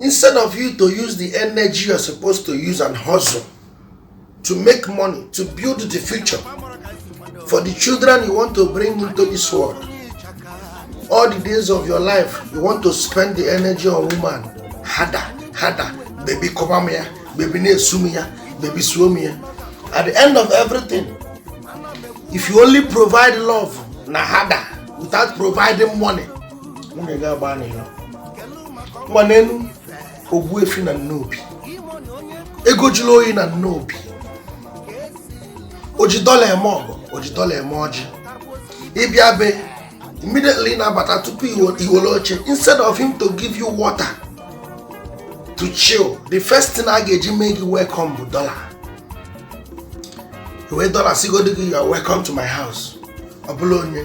instead of you to use the energy you're supposed to use and hustle to make money to build the future for the children you want to bring into this world all the days of your life you want to spend the energy on woman harder harder baby cover me baby na-esu m ya baby suo m ya at the end of everything if you only provide love na harder without providing money nwa n'elu ogbuefi na nnobi ego jụrụ oyi na nnobi oji dọla eme ọgọ oji dọla eme ọjị ị bịa be immediately na-abata tupu i wele oche instead of him to give you water to chill the first thing a ga-eji mee gị welcome bụ dọla wee dọla sigodi gị you're welcome to my house ọ bụlụ onye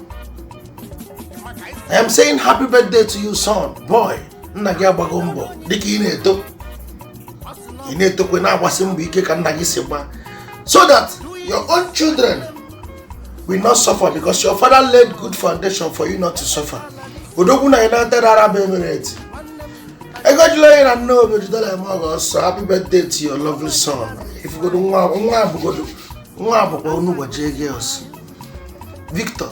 I am saying happy birthday to you son boy nna gị agbago mbọ dịka ị na-eto ị na-etokwa na-agbasi mbọ ike ka nna gị si gba so that your own children will not suffer because your father laid good foundation for you not to suffer odogwu na united arab emirates ego jụrụ oyi na nnobi oji dọla eme ọgọ so happy birthday to your lovely son ị fụgodu nwa nwa abụgodo nwa abụkwa unu ụbọchị ego ọsọ Victor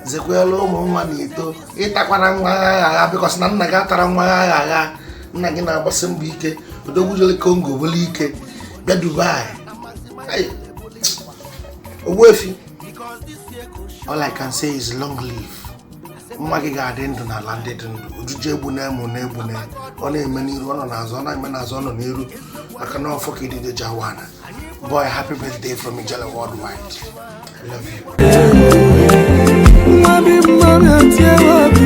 zekwelu ụmụ nwa na i to ị takwana nwa agha agha agha because na nna gị atara nwa agha agha agha nna gị na-agbasi mbọ ike odogwu jele congo bulu ike bịa dubai Ai, ogbuefi all i can say is long live nwa gị ga-adị ndụ n'ala ndị dị ndụ ojije egbuna e ma ụna egbuna e ọ na-eme n'iru ọ nọ n'azụ ọ na-eme n'azụ ọ nọ n'iru maka na ọfọ ka idide ji awa ana boy happy birthday from ijele worldwide I love you nwa bi mma bịa tie obi